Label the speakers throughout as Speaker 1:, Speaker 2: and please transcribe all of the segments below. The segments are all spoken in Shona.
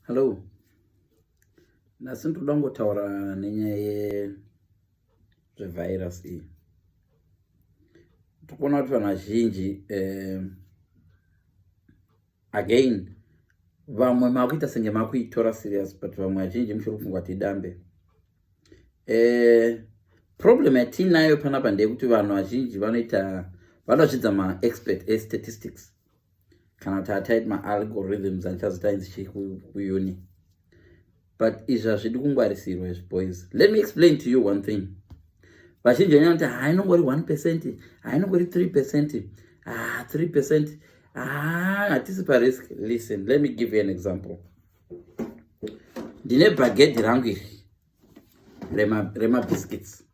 Speaker 1: Hello. Nhasi ndoda kungotaura nenyaya yezvevirus iyi. Tikuona kuti vanhu vazhinji eh, again vamwe makuita senge makuitora serious but vamwe vazhinji muchiri kufungwa kuti idambe. Eh, problem yatiinayo panapa ndeyekuti vanhu vazhinji vanoita vanozvidza maexpert estatistics kana kuti ataiti maalgorithms andichazoita inzi chii kuuni but izvi hazvidi kungwarisirwa izvi boys let me explain to you one thing vazhinji vanyana kuti hainongori one percent hainongori three percent ah three percent ah hatisi parisk listen let me give you an example ndine bhagedhi rangu iri remabiscuits rema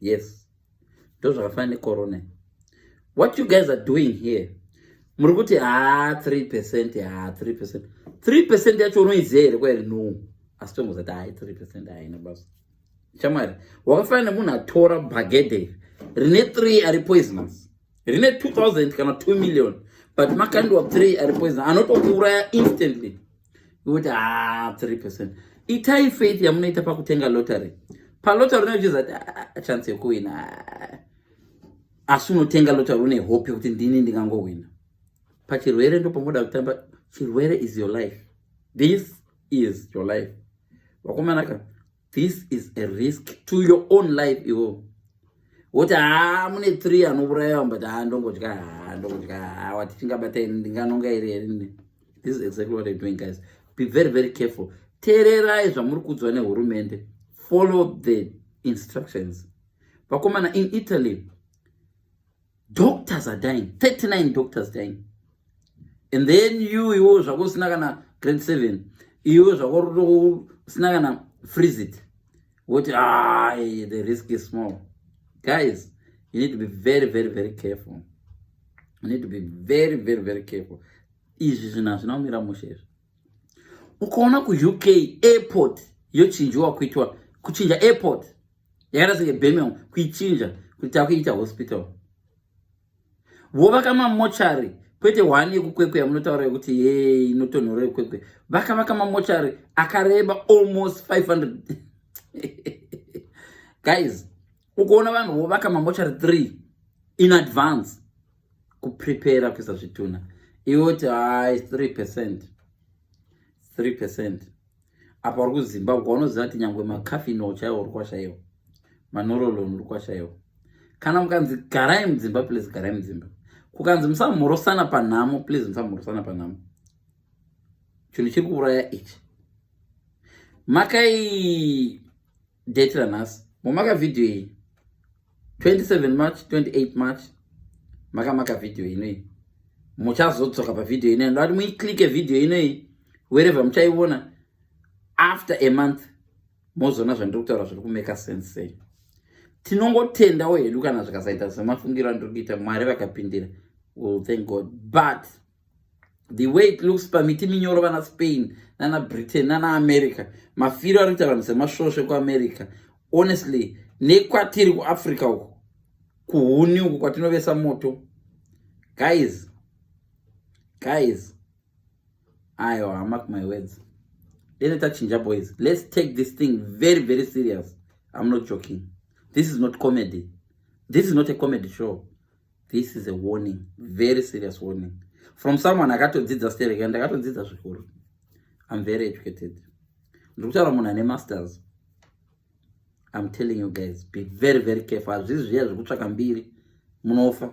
Speaker 1: yes ndozvakafanana necorona what you guys are doing here muri kuti haa ah, 3 percent haa ah, 3 percent 3 percent yacho unoiziva here kwairi no asi tongozati hai 3 percent haina basa chamwari wakafanana nemunhu atora bagede rine 3 ari poisonous rine 2000 kana 2 million but makandiwa 3 ari poisonous anotokuuraya instantly kuti ah, three percent itai faith yamunoita pakutenga lottery palottery unochiza kuti ah, chance yekuwina ah. asi unotenga lottery une hope yekuti ndini ndingangohwina pachirwere ndopamoda kutamba chirwere is your life this is your life vakomanaka this is a risk to your own life iwo woti haa mune three anouraiwa but haa ndongodya haa ndongodya haa wati tingabata ini ndinganonga iri erini this is exactly what I'm doing guys be very very careful teererai zvamuri kuudzwa nehurumende follow the instructions vakomana in italy doctors are dying 39 doctors dying and then you iwo zvako usina kana grade 7 iwo zvako usina kana freeze it woti ah, the risk is small guys you need to be very very very careful you need to be very very very careful izvi zvinhu hazvina kumira mushe izvi ukaona kuuk airport yochinjiwa kuitwa kuchinja airport yakaita senge bemel kuichinja kuti takuiita hospital vovaka mamochari kwete hwani yekukwekwe yamunotaura yekuti ye inotonhora yekwekwe vakavaka mamochari akareba almost 500 guys ukuona vanhu vovaka mamochari 3 in advance kuprepara kuisa zvitunha iwe kuti hai 3 percent 3 percent apa uri kuzimba uko unoziva kuti nyangwe makafino chaiwo uri kwashaiwa manorolon uri kwashaiwa kana mukanzi garai mudzimba please garai mudzimba kukanzi musamhorosana panhamo please musamhorosana panhamo chinhu chiri kuuraya ichi makai date ranhasi momaka vhidhiyo iyi 27 march 28 march makamaka video inoyi muchazodzoka pavideo inoyi ndoati muiclike video inoyi wherever muchaiona after a month mozoona zvandiri kutaura zviri kumeka sense sei tinongotendawo hedu kana zvikasaita semafungiro andiri kuita mwari vakapindira will thank god but the way it looks pamiti minyoro vana spain nana britain nana america mafiro ari kuita vanhu semasvosve kuamerica honestly nekwatiri kuafrica uku kuhuni uku kwatinovesa moto guys guys ayo hamak my words dene tachinja boys let's take this thing very very serious i'm not joking this is not comedy this is not a comedy show this is a warning very serious warning from someone akatodzidza sterek and akatodzidza zvikuru im very educated ndiri kutaura munhu ane masters im telling you guys be very very careful hazvizi zviya zvekutsvaka mbiri munofa